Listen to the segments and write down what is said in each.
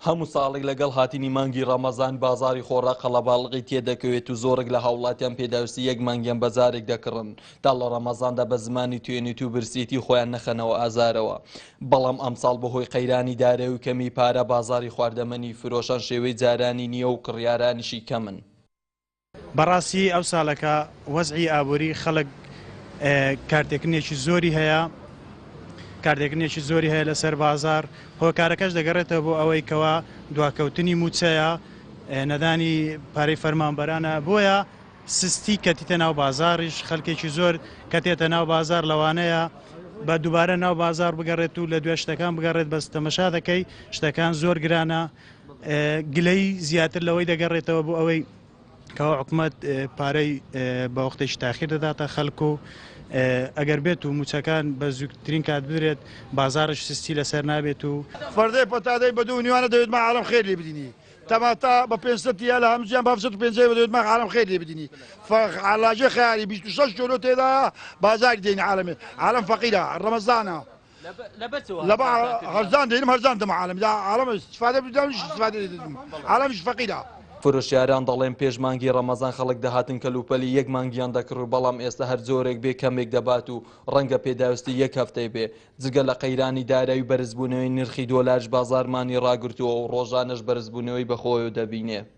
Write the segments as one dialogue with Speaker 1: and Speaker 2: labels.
Speaker 1: هەموو ساڵێک لەگەڵ هاتنی مانگی ڕەمەزان بازاری خۆڕا قەڵەباڵغی تێدەکەوێت و زۆرێک لە هاوڵاتیان پێداویستی یەک مانگیان بە جارێک دەکڕن تا لە ڕەمەزاندا بە زمانی توێنیت و برسیەتی خۆیان نەخەنەوە ئازارەوە بەڵام ئەمساڵ بەهۆی قەیرانی دارایی و کەمی پارە بازاری خواردەمەنی فرۆشان شێوەی جارانی نییە و کڕیارانیشی کەمن.
Speaker 2: بەڕاستی ئەو سالەکە وەزعی ئابوری خەلک کارتێکنێکی زۆری هەیە کارتێکنێکی زۆری هەیە لەسەر بازار هۆکارەکەش دەگەڕێتەوە بۆ ئەوەی کەوا دواکەوتنی موچەیە نەدانی پارەی فەرمانبەرانە بۆیە سستی کەتیتە ناو بازاریش خەلکێکی زۆر کەتێتە ناو بازار لەوانەیە بە دوبارە ناو بازار بگەڕێت و لە دوای شتەکان بگەڕێت بەس تەمەشا دەکەی شتەکان زۆر گرانە گلەیی زیاتر لەوەی دەگەڕێتەوە بۆ ئەوەی کەوا حکومەت پارەی بە وەختێکی تاخیر دەداتە خەلک و ئەگەر بێت و موچەکان بە زووترین کات بدرێت بازارش سستی لەسەر نابێت و فەردەی پەتادەی
Speaker 3: بە دوو نیوانە دەوێت مە عالەم خێر لێ بدینی تەماتە بە پێنج سەتی یا لە هەمزیان بە هەفت سەت و پێنجەی بە دەوێت مە عالەم خێر لێ بدینی فەخ عالاجێ خەیاری بیست و شەش کێلۆ تێدایە بازاری دێنی عالەمێ عالەم فەقیرە ڕەمەزانە لەبەر هەرزان دەینم هەرزان دەم عالەمی دا عالەم استفادە بدەم منیش استفادە لێ دەدەم عالەمیش فەقیرە. فرۆشیاران دەڵێن
Speaker 1: پێش مانگی ڕەمەزان خەڵک دەهاتن کەلوپەلی یەک مانگیان دەکڕی بەڵام ئێستا هەر جۆرێک بێ کەمێک دەبات و ڕەنگە پێداویستی یەک هەفتەی بێ جگە لە قەیرانی دارایی و بەرزبوونەوەی نرخی دۆلارش بازارمانی ڕاگرتووە و ڕۆژانەش بەرزبوونەوەی بەخۆوەدەبینێ.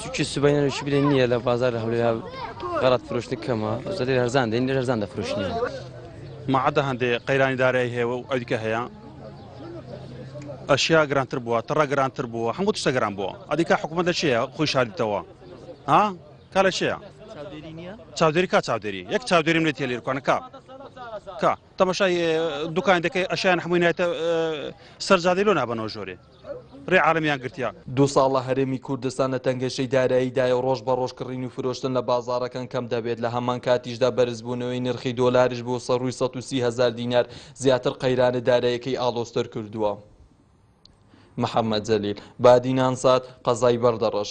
Speaker 4: چونکی سبەینە نوشی بدەین نییە لە بازار هەولێرا غەڵات فرۆشتن کەمە زەدەی هەرزان دێن لە هەرزان دەفرۆشنی مەعدە
Speaker 5: هەندێ قەیرانی دارایی هەیە و ئەویکە هەیە ئەشیا گرانتر بووە تڕە گرانتر بووە هەموو تشتە گران بووە ئەدیکا حکوومەت لە چیە خۆی شاردیتەوە ها کا لە چیە چاودێری کا چاودێری یەک چاودێریم لێ تێلێرکانە کا کا تەمەشای دوکان دەکەی ئەشیان هەمووی نایتە سەرجادی لۆ نابەنەوە ژۆرێ رێ عالمیان گرتیە. دوو ساڵە هەرێمی
Speaker 1: کوردستان لە تەنگەشەی داراییدایە و ڕۆژ بە ڕۆژ کڕین و فرۆشتن لە بازاڕەکان کەم دەبێت، لە هەمان کاتیشدا بەرزبوونەوەی نرخی دۆلاریش بۆ سەرووی سەد و سی هەزار دینار زیاتر قەیرانە داراییەکەی ئاڵۆزتر کردووە. محەممەد جەلیل بادینان سات، قەزای بەردەڕەش.